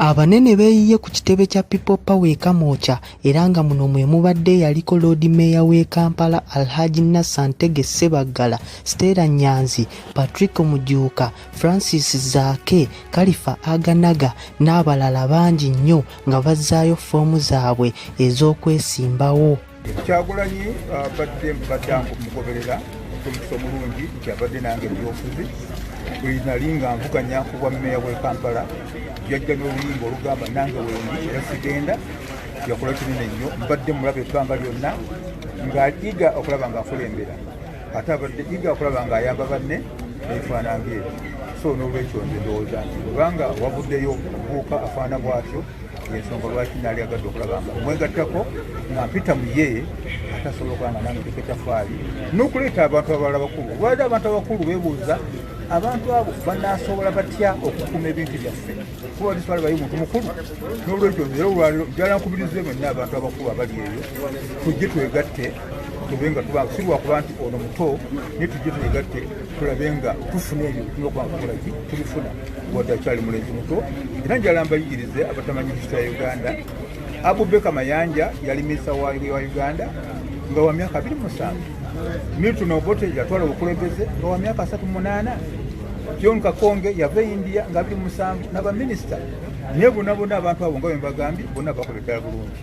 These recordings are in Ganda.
Abanene beeyiye ku kitebe kya People Power e Kamwokya era nga muno mwe mubadde eyaliko Loodi Meeya w'e Kampala Alhaji Nasser Ntege Ssebaggala, Stella Nyanzi, Patrick Mujuuka, Francis Zaake, Kalifa Aganaga n'abalala bangi nnyo nga bazzaayo ffoomu zaabwe ez'okwesimbawo. kyagulanyi abadde uh, mbadde mugoberera omuliso omulungi nti abadde nange ebyobufuzi buli nali nga nvuganya ku bwa meeya bwe kampala yajja n'oluyimba olugamba nange wendi era sigenda yakola kinene nnyo mbadde mulaba ebbanga lyonna ng'ayiga okulaba ng'akulembera ate abadde iga okulaba nga ayamba banne ebifaanange ebyo so n'olwekyo nze ndowooza nti kubanga wavuddeyo omubuuka afaana bwatyo yensonga lwaki naali agadde okulaba nga mwegattako nga mpita mu ye ate asobola okuba nga nange teka etafaali n'okuleeta abantu abalala bakulu olwali abantu abakulu beebuuza abantu abo banasobola batya okukuuma ebintu byaffe kuba tusala bayi muntu mukulu n'olwekyo era olwaliro njala nkubirize mwenna abantu abakulu abali eyo tujje twegatte tube nga tuba si lwakuba nti ono muto naye tujje twegatte tulabe nga tufuna ebyo bituma okwankukola ki tubifuna wadde akyali mulenzi muto era njala mbayigirize abatamanyi hisita ya uganda abubeka mayanja yali minisa wa uganda nga wa myaka abiri musanvu milton obote yatwala obukulembeze nga wa myaka asatu munaana john kakonge yava e india nga abiri musanvu nabaminisita naye bonabona abantu abo nga bembagambye bona bakola eddala bulungi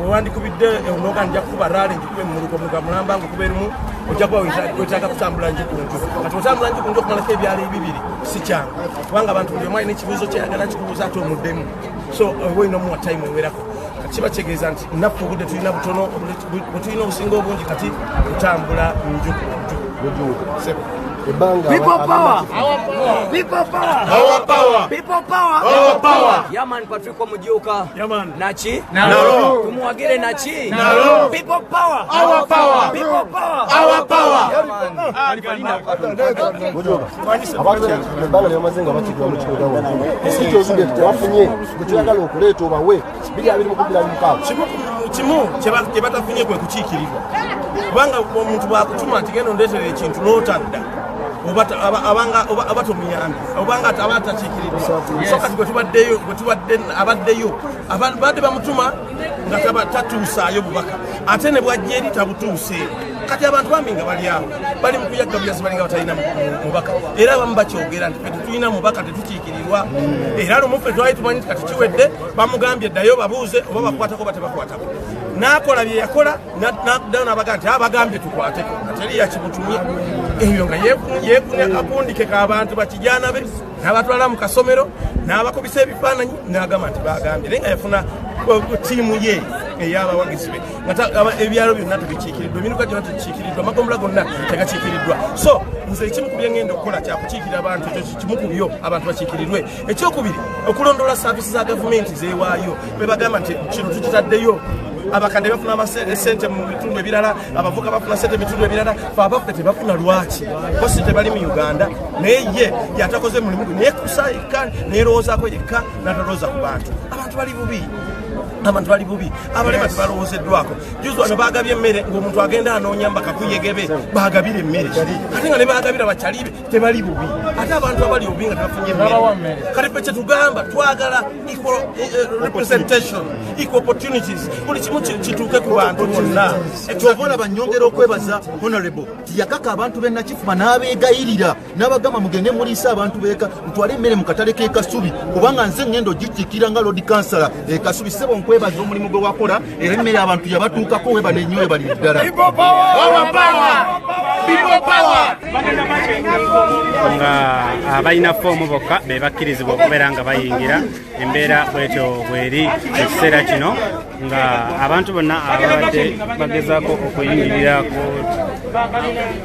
wewandikubidde ewunoga nja kukuba rale njikube mumuluko muga mulamba ngukuba erimu ojja kuba wetaaga kutambula nji ku nju kati otambula nji ku nju okumalako ebyalo ebibiri si kyangu kubanga abantu buli omu alina ekibuuzo kyeyagala kikubuuza ate omuddemu so oba olina omuwa time ewerako kiba kitegeeza nti naffe obudde tulina butono bwetulina obusinga obungi kati kutambula nju ku nju ebanga people power our power people power our power people power our power yeah man kwa Mujuka nachi nalo tumwagile nachi nalo people power our power people power our power kimu kyebatafunye kwe kukiikirirwa kubanga omuntu bwakutuma nti genda ondeetera ekintu n'otadda oba tomuyambi obanga aba atakiikiridde so kati gwetubaddeyo gwetubadde abaddeyo abadde bamutuma nga tatuusaayo bubaka ate ne bwajja eri tabutuuse kati abantu bambi nga bali awo bali mu kuyagga buyasi balinga batalina mubaka era abamu bakyogera nti fe tetulina mubaka tetukiikirirwa era lumu fe twali tumanyi nti kati kiwedde bamugambye ddayo babuuze oba bakwatako oba tebakwatako n'akola bye yakola naddayo nabaga nti abagambye tukwateko nga teri yakibutumye ebyo nga yeekunya akundike k'abantu bakijana be n'abatwala mu kasomero n'abakubisa ebifaananyi n'agamba nti bagambye naye nga yafuna tiimu ye eyabawagizi be ebyalo byonna tebikiikiriddwa emiruka gyona tekikiikiriddwa amagombula gonna tegakiikiriddwa so nze ekimu ku byengenda okukola kyakukiikira abantu ekyo kimu ku byo abantu bakiikirirwe ekyokubiri okulondoola saavisi za gavumenti zewaayo bebagamba nti kino tukitaddeyo abakadde bafuna sente mu bitundu ebirala abavuka bafuna sente mu bitundu ebirala fe abaffe tebafuna lwaki bosi tebali mu uganda naye ye yatakoze mulimu gwe naye kusa yekka nerowoozako yekka natalowooza ku bantu abantu bali bubi abantu bali bubi abalema tebalowoozeddwako juzi wano bagabye emmere ngaomuntu agenda anoonya mbakakuyegebe bagabire emmere ate nga ne bagabira bakyalibe tebali bubi ate abantu abali bubi nga tebafunye kale fe kyetugamba twagala eh, eh, representation equal opportunities buli kimu kituuke ku bantu bonna kyova olaba nyongera okwebaza honorable tiyakaka abantu benakifuba n'abeegayirira n'abagamba mugende muliisa abantu beeka mutwale emmere mu katale k'ekasubi kubanga nze ngenda ogikikira nga lodi kansala ekasubi eh, sebo nkwebaza omulimu gwe wakola era emmere abantu yabatuukako webale nnyo webali ddala nga abalina ah, foomu bokka be bakkirizibwa okubeera nga bayingira embeera bwetyo bweri ekiseera kino nga abantu bonna ababadde bagezaako okuyingirira ku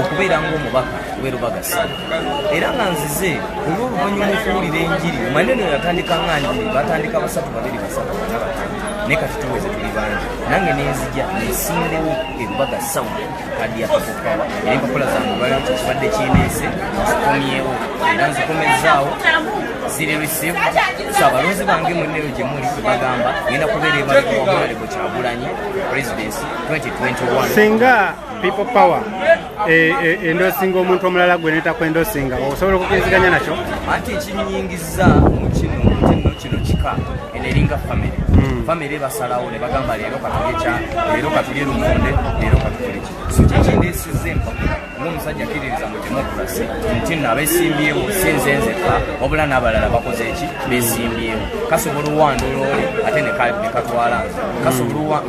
okubeera ng'omubaka we lubaga ssaza era nga nzize olw'oluvannyuma okuwulira enjiri omanye no yatandika nga njiri batandika basatu babiri basatu nabat naye kati tuweze tuli bangi nange nenzija nesindewo elubaga sawu kadi yakakukawa era empapula zange lwaliro kyekibadde kineese nzikomyewo era nzikomezaawo ziri received so abalonzi bange mulinero gye muli bagamba ngenda kubeera ebaleko wamulaleko kyagulanyi presidency 2021 people power eh, eh, endosinga omuntu omulala gwe netako endosinga osobola okukiriziganya nakyo anti ekinyingiza mu kino kino kino kika eno eringa famiry hmm. famiry basalawo ne bagamba leero katulye kya leero katulye lumonde leero katulye ki so kyekindeesiza empapula ngaomusajja kiririza mu demokrasi nti no abesimbyewo si nze nzeka wabula n'abalala bakoze eki besimbyewo kasobola owandola oli ate nekatwala nze kasobola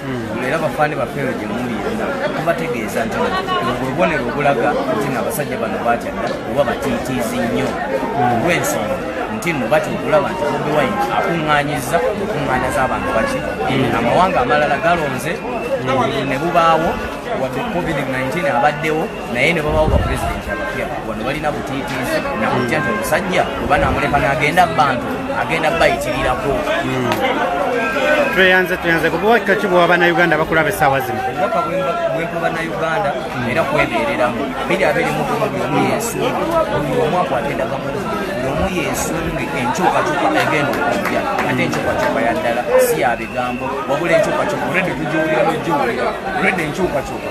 hmm, era bafaani bafeero gye muli yonna tubategeeza nti obubonero obulaga nti no abasajja bano bakyadda oba batiitiizi nnyo olw'ensonga nti no batya okulaba nti bobi wine akuŋŋaanyiza okuŋŋaanya z'abantu baki hmm. amawanga amalala galonze hmm. ne bubaawo wadde covid-19 abaddewo naye ne babawo bapulezidenti abapya wano balina butiitiizi nakutya nti omusajja oba namuleka nagenda bantu agenda bayitirirako hmm. tweyanze tweyanze kubuwakika ki bwa bannayuganda bakulaba essaawa zino obubaka bwempa bannayuganda hmm. era kwebeereramu biri abiri mu buli omu yesunge buli omu akwata endagamu buli omu yesunge enkyukakyuka egenda okujja ate enkyukakyuka yaddala si ya bigambo wabula enkyukakyuka olwedde tugiwulira nogiwulira olwedde enkyukakyuka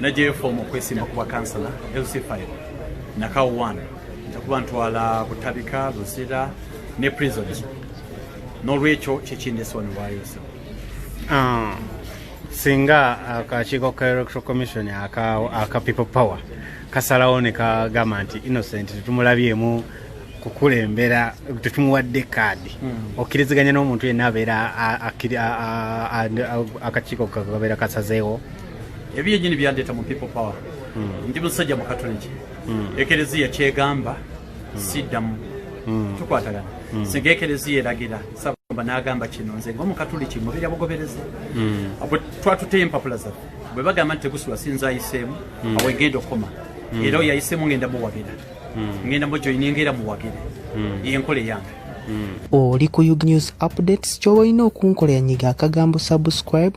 najeyo foomu okwesimba ku bwakansala lc5 nakawo 1 njakuba ntwala butabika lusira ne prison n'olwekyo kyekindesoonewaayoso ah, singa akakiiko ka electoral commission aka people power kasalawo ne kagamba nti innocent tetumulabyemu kukulembera tetumuwadde kaadi hmm. okkiriziganya n'omuntu yenna abeera akakiiko kakabeera kasazeewo ebyo yenyini byandeeta mu people power hmm. ndi musajja mukatuliki hmm. ekereziya kyegamba hmm. siddamu tukwatagana singa ekereziya eragira sabamba n'agamba kino nze ngaomukatuliki mubeera bugoberezi abwe twatuteyo empapula zaffe bwe bagamba nti tegusula sinza ayiseemu awo egenda okukoma era oyo ayiseemu ngenda muwagira ngenda mujoyininga era muwagire yenkola eyange oli ku ug news updates kyoba olina okunkola yanyiga akagambo subscribe